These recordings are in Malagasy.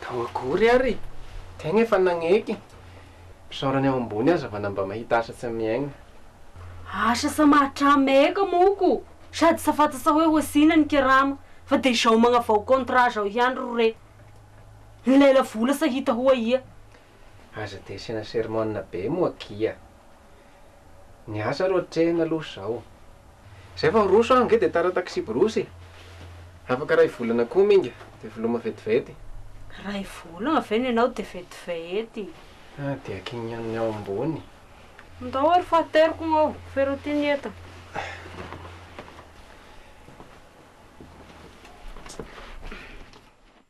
Tao akory ary! Tegna efa nagneky! Mpisaorany ao ambony aza vana mba mahita asa tsy miaigna. Asa sa mahatra meka moko? Sady sa fatasa hoe hosina ny kerama fa de izao magnavao contrat zao ihany ro re. Ny lela vola sa hita ho aia? Aza de asiana sermon be moa akia. Ny asa ro atrehina aloha zao. Zay fa miroso aho nge de tara taxi brousse e! Afaka ray volana koa minga de veloma vetivety. Ray volana ve no ianao de vetivety? Ah dia kinian'ny ao ambony. Ndao ary fa ateriko ny ao, ferao ity ny entana.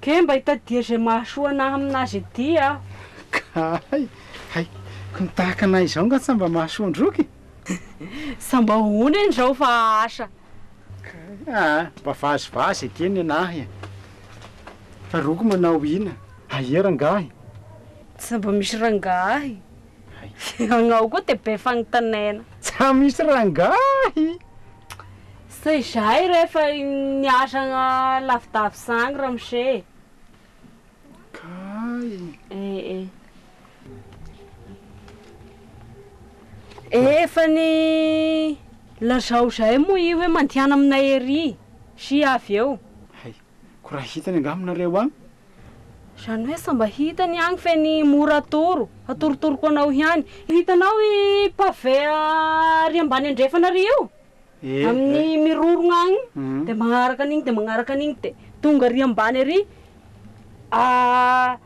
Kee mba itadia izay mahasoa anah amin'azy ity aho. Kay! Hay! ko ny tahaka anah izao nga tsa mba mahasoa an-droky e! Sa mba hohona eny izao fa asa? Kay! Aa! mba vazivazy eke ny anah e! fa roky manao ina? Aia rangahy? Tsa mba misy rangahy? Hay. Anao koa dia be fanontanaina. Tsa misy rangahy! Sa izahay re efa niasa lavidavy zany ramose e! Kay. Eh eh. Efa ny lazao izahay moa i hoe mandehana aminay ery sy avy eo. Hay. Ko raha hitany angaha aminareo an? Zany hoe sa mba hitany agny fe ny mora atoro, atorotoroko anao ihany. Hitanao i pavé ary ambany andrefana ary io? Amin'ny mirorogna agny dia magnaraka an'igny dia magnaraka an'igny dia tonga ary ambany ary.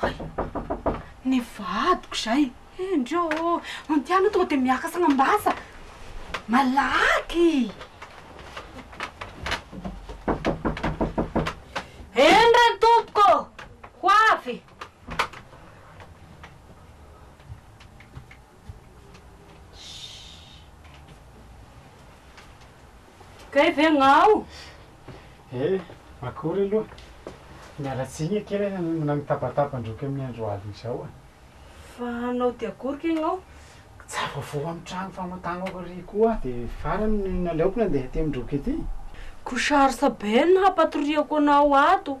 Hay! Ny vadiko izay! Hendry ô! Ny aty aloha tonga dia miaka sagnam-basa! Malaky! Hendry an tompoko ô! Ho avy! Kay ve ngao? Eh, akory aloha. Miala tsiny akia re na mitabataba an-droky amin'ny andro alina izao a! Fa anao dia akory kay ngao? Tsy avoavoa amin'ny trano famantanako ary koa aho dia farany no naleoko nandeha aty amin-droky aty. Koa sarotra be ny hampatoriako anao ato.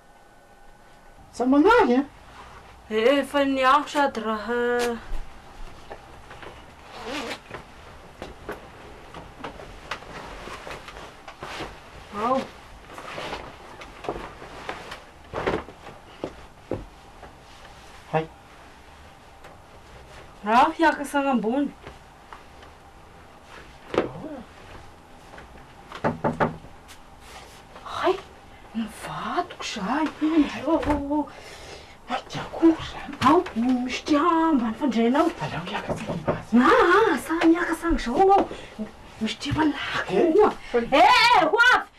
Aza manahy an! Eh efa ny aho sady raha. Ao. Hay. Raha aho hiakasana ambony. Hay, nivadiko zahay indray oaoo, mainty akory izany, ao misotra ambany fandriana ao, aleo miaka tsika mivaza, aa sa miaka sa an'izao anao, misotra efa lako koa, ee ho avy.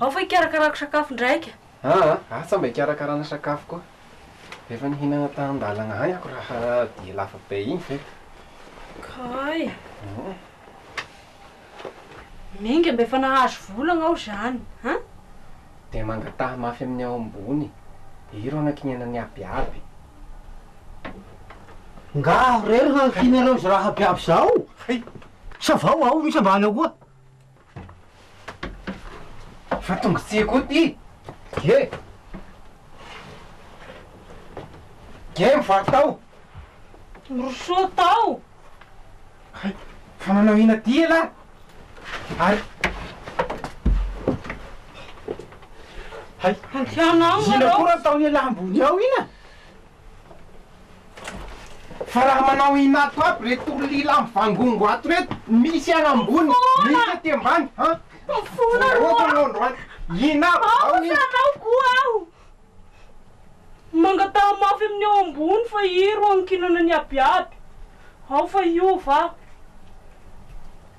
Ao fa hikarakarako sakafo ndraika. Aa ah sa mba hikarakarana sakafo koa? Efa nihinana tan-dalana any ako raha dia lava be iny ve? Kay. Miainga mba efa nahazo vola agnao zany an! Dia mangataha mafy amin'ny ao ambony dia io ro anakinihana ny abiaby. Ngaho re ry hanakinareo izao raha abiaby izao! Hay! Sa vao ao misy ambany ao koa? Fa tonga tsy eko ty ge. Ge mivaky tao. Miroso tao. Hay, fa manao ina ty elah? Ary. Hay. Andehanao nareo. Ina koa raha ataon'elah ambony ao ina? Fa raha manao inato aby reto olona mivangongo ato reto, misy any ambony, misy aty ambany an! Voaroaka anao androany! Inato zao ny. Aoka anao koa aho! Mangataha mafy amin'ny ao ambony fa iro ankinana ny abiaby! Ao fa hiova aho!